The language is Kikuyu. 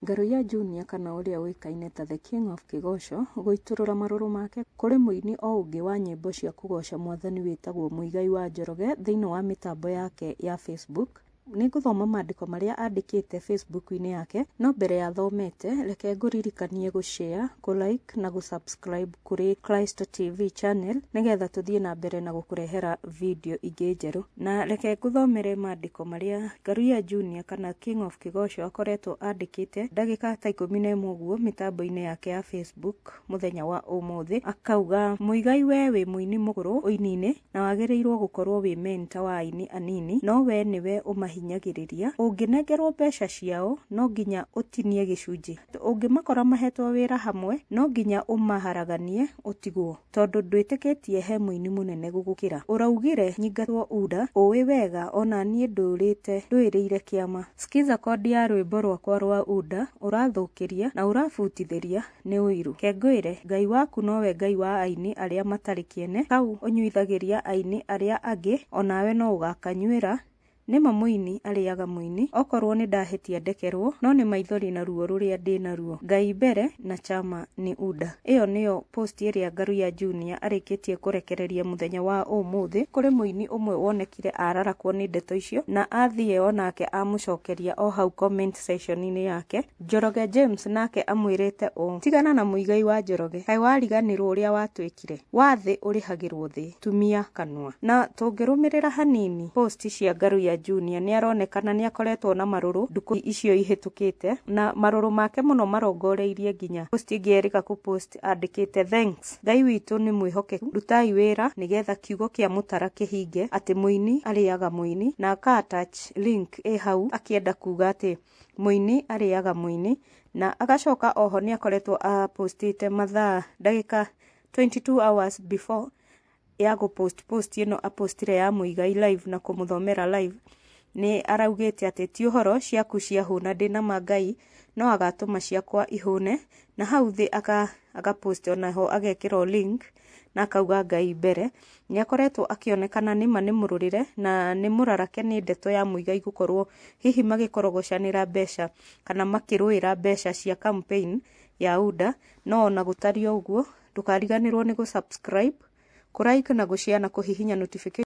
Ngaruiya Junior kana ũrĩa ũĩkaine ta The King of Kĩgoco gũitũrũra marũrũ make kũrĩ mũini o ũngĩ wa nyĩmbo cia kũgoca mwathani wĩtagwo Muigai wa Njoroge thĩinĩ wa mĩtambo yake ya Facebook, Nĩngũthoma mandĩko marĩa andĩkĩte Facebook-inĩ yake, no mbere ya thomete, reke ngũririkanie gũ share, kũ like na gũ subscribe. kũrĩ Christ TV channel nĩgetha tũthiĩ na mbere na gũkũrehera video ingĩ njerũ. Na reke ngũthomere maandĩko marĩa Ngaruya Junior kana King of Kĩgoco akoretwo andĩkĩte ndagĩka ta ikũmi na ĩmwe ũguo mĩtambo-inĩ yake ya Facebook mũthenya wa ũmũthĩ. Akauga, Muigai we wĩ mũini mũgũrũ ũini-inĩ, na wagĩrĩirũo gũkorũo wĩ mentor wa aini anini no wee nĩwe ũmahinyagĩrĩria, ũngĩnengerũo mbeca ciao no nginya ũtinie gĩcunjĩ, ũngĩmakora mahetwo wĩra hamwe no nginya ũmaharaganie ũtigwo tondũ ndwĩtĩkĩtie he mũini mũnene gũgũkĩra. Ũraugire nyingatwo Uda, ũĩ wega ona niĩ ndũrĩte ndũĩrĩire kĩama. Skiza code ya rwĩmbo rwakwa rwa Uda, ũrathũkĩria na ũrabutithĩria nĩ ũiru. Ke ngwĩre, Ngai waku nowe Ngai wa aini arĩa matarĩ kĩene, kau ũnyuithagĩria aini arĩa angĩ, o nawe no ũgaakanyuĩra. Nĩ ma mũini arĩaga mũini. Okorwo nĩ ndahĩtia ndekerwo, no nĩ maithori na ruo rũrĩa ndĩ naruo. Ngai mbere na Chama ni Uda. Ĩyo nĩyo post ĩrĩa Ngaruiya Junior arĩkĩtie kũrekereria mũthenya wa ũmũthĩ. Kũrĩ mũini ũmwe wonekire ararakwo nĩ ndeto icio na athiĩ o nake amũcokeria o hau comment section-inĩ yake. Njoroge James nake amwĩrĩte ũũ, Tigana na mũigai wa Njoroge, kaĩ wariganĩrwo ũrĩa watwĩkire? Wa thĩ ũrĩhagĩrwo thĩ, tumia kanua. Na tũngĩrũmĩrĩra hanini post cia Ngaruiya Junior nĩaronekana nĩakoretwo na marũrũ ndukũ icio ihĩtũkĩte, na marũrũ make mũno marongoreirie nginya post ĩngĩ erĩga kũ post andĩkĩte, Thanks, Ngai witũ nĩ mwĩhokeku, rutai wĩra nĩgetha kiugo kĩa mũtara kĩhinge atĩ mũini arĩaga mũini, na aka attach link ĩ hau akĩenda kuga atĩ mũini arĩaga mũini na agacoka oho nĩ akoretwo a postĩte mathaa ndagĩka 22 hours before ya gũ post post ĩno a postire ya mũigai live na kũmũthomera live nĩ araugĩte atĩ ti ũhoro ciaku ciahũna ndĩna ma ngai no agatũma ciakwa ihũne na hau thĩ aka, aka post onaho agekĩrwo link na akauga Ngai mbere, nĩ akoretwo akĩonekana nĩma nĩ mũrũrĩre na nĩ mũrarake nĩ ndeto ya Muigai gũkorwo hihi magĩkorogocanĩra mbeca kana makĩrũĩra mbeca cia campaign ya UDA, no ona gũtariĩ o ũguo ndũkariganĩrwo nĩ gũ subscribe, kũ like na gũ share na kũhihinya notification.